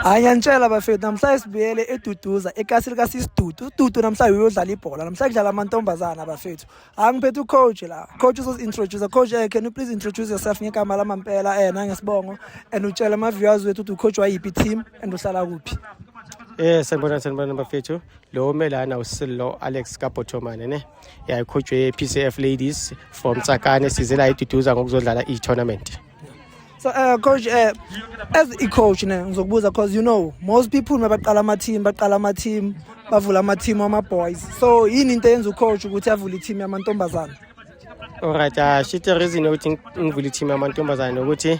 Ayantshela bafethu namhlanje sibuyele eduduza ekasi lika sisidudu ududu namhlanje uyodlala ibhola namhlanje kudlala amantombazana bafethu angiphethe ucoach la coach uzosintroduce coach eh can you please introduce yourself ngegama lamampela eh nangesibongo and utshela ama viewers wethu ukuthi ucoach wayiphi team and uhlala kuphi eh sanibona sanibona bafethu lo umelana usillo alex kabhotomane ne yayikhutshwe ye-pcf ladies from tsakane size la iduduza ngokuzodlala i-tournament so uh, coach uh, as i-coach ne ngizokubuza because you know most people mabaqala ama-team baqala ama-team bavula ama-team wama-boys so yini into eyenza ucoach ukuthi avule i-team yamantombazana Alright, uh, she the reason ukuthi ngivule team yamantombazane ukuthi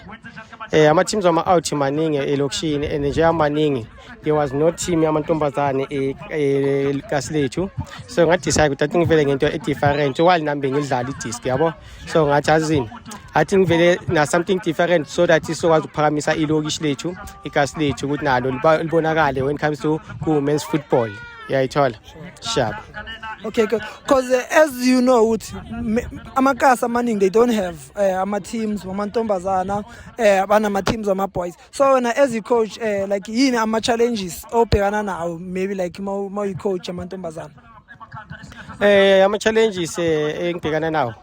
eh ama teams ama out maningi elokishini and nje amaningi there was no team yamantombazane ekasi e, lethu so nga decide ukuthi athi ngivele ngento e different while nambe ngidlala i disc yabo so ngathi azini athi ngivele na something different so that isokwazi ukuphakamisa ilokishi lethu ikasi lethu ukuthi nalo libonakale when it comes to ku men's football yayithola sharp okay because uh, as you know ukuthi amakasi amaningi they don't have uh, ama-teams wamantombazana uh, eh, banama-teams ama-boys so wena as i-coach uh, like yini ama-challenges obhekana nawo maybe like ma uyi-coach amantombazana um uh, ama-challenges uh, engibhekana nawo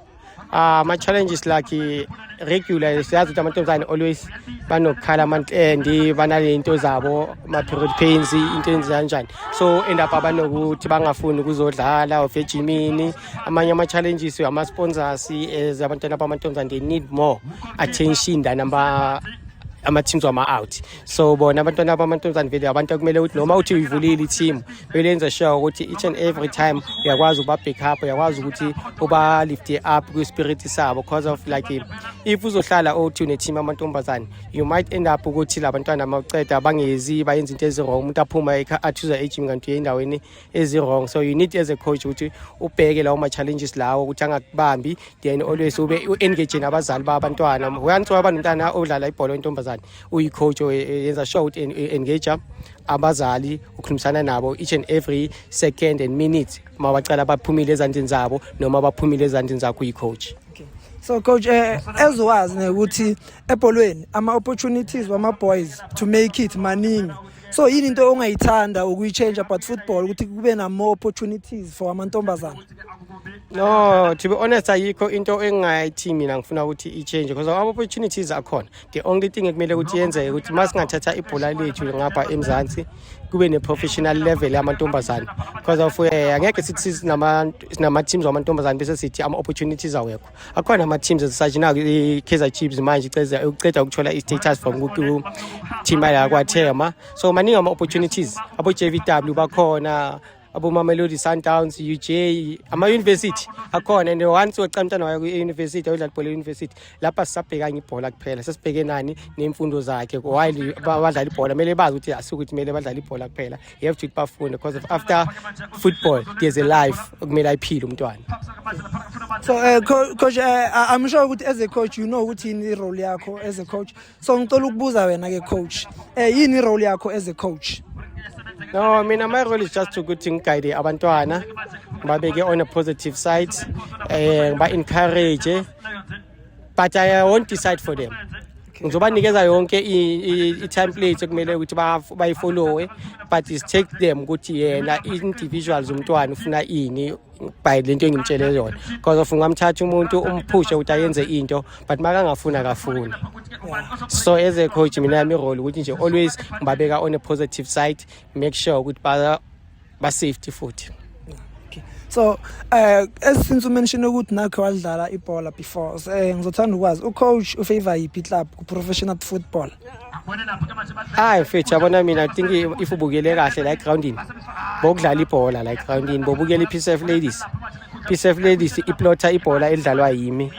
Ah, ama challenges like regular siyazi ukuthi amantombazane always banokukhala amantendi banalento zabo ma period pains into enjani so end up abanokuthi bangafuni ukuzodlala of ejimini amanye ama challenges ama sponsors as abantwana bamantombazane they need more attention than ama ama teams wama out so bona abantwana bamantombazane vele abantu okumele ukuthi noma uthi uyivulile i-team belenza sure ukuthi each and every time uyakwazi ukuba-back up uyakwazi ukuthi uba-lifte up kwi-spirit sabo because of like if uzohlala othi une-team amantombazane you might end up ukuthi la bantwana mawuceda bangezi bayenza into ezi-wrong umuntu aphuma athuza ejim kanti uyendaweni ezi-wrong so you need as a coach ukuthi ubheke lawo ma-challenges lawo ukuthi angakubambi then always ube u-engage nabazali babantwana once waba nomntana odlala ibhola wentombazane uyicoach yenza sure ukuthi engage abazali ukhulumisana nabo each and every second and minute uma bacala baphumile ezandleni zabo noma baphumile ezandleni zakho uyicoach okay. so coach eh, ezowazi nekuthi ebholweni ama opportunities wama boys to make it maningi so yini into ongayithanda ukuyichange about football ukuthi kube na more opportunities for amantombazana no to be honest ayikho into engayithi mina ngifuna ukuthi i-change because ama-opportunities akhona the only thing ekumele ukuthi yenzeke ukuthi uma singathatha ibhola lethu ngapha emzansi kube ne-professional level yamantombazane because of um angeke sithi sinama-teams wamantombazane bese sithi ama-opportunities awekho akhona ama-teams ezisathi naku i-kaizer chiefs manje uceda ukuthola i-status from ku-team yakwathema so maningi ama-opportunities abo-j v w bakhona abomamelodi sundowns uj ama-university akhona and once weca umntana wayo kwi-university ayodlala ibhola e-university lapha sisabhekanye ibhola kuphela sesibheke nani nemfundo zakhe while badlala ibhola kumele bazi ukuthi asukuthi kumele badlale ibhola kuphela you have to bafunde because of after football there's a life okumele ayiphile umntwana so uh, coach uh, i'm sure ukuthi as a coach you know ukuthi yini i-role yakho as a coach so ngicela ukubuza wena ke coach eh yini role yakho as a coach no mina my role is just ukuthi ngiguide abantwana ngibabeke on a positive side eh ngiba encourage but i won't decide for them ngizobanikeza yonke i-template ekumele ukuthi bayifollowe but is take them ukuthi yena individuals umntwana ufuna ini by lento engimtshele yona because of ungamthatha umuntu umphushe ukuthi ayenze into but makangafuni akafuni so as a coach mina yami role ukuthi nje always ngibabeka on a positive side make sure ukuthi ba ba safety futhi so eh as since you mentioned ukuthi nakho wadlala ibhola before eh ngizothanda ukwazi u coach u favor yipi club ku professional football hayi mfethu yabona mina think if ubukele kahle la egroundini bokudlala ibhola la egroundini bobukela i-pcf ladies pcf ladies iplotha ibhola elidlalwa yimi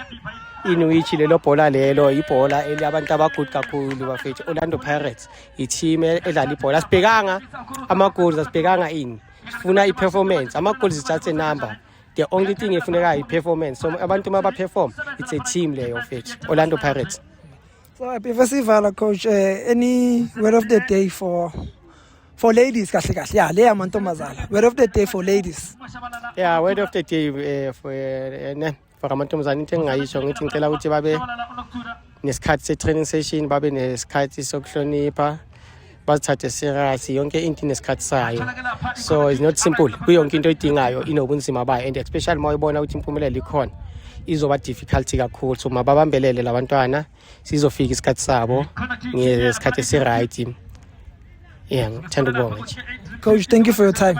inuichi lelo bhola lelo ibhola eliyabantu abagood kakhulu bafethu orlando pirates i-team e-, edlala ibhola asibhekanga ama-goals asibhekanga ini sifuna i-performance ama-goals is just a number the only thing efunekayo i-performance so abantu uma baperform it's a team leyo fethu orlando pirates So happy festival coach uh, any word of the day for for ladies kahle kahle yeah le amantombazana word of the day for ladies yeah word of the day uh, for uh, ne for amantombazana into engingayisho ngithi ngicela ukuthi babe nesikhathi se-training session babe nesikhathi sokuhlonipha bazithathe serious yonke into inesikhathi sayo so it's not simple kuyonke into oyidingayo inobunzima bayo and especially uma uyibona ukuthi impumelelo ikhona izoba difficult kakhulu so mababambelele labantwana sizofika isikhathi sabo ngesikhathi esiright yeah ngithanda ukubonga nje coach thank you for your time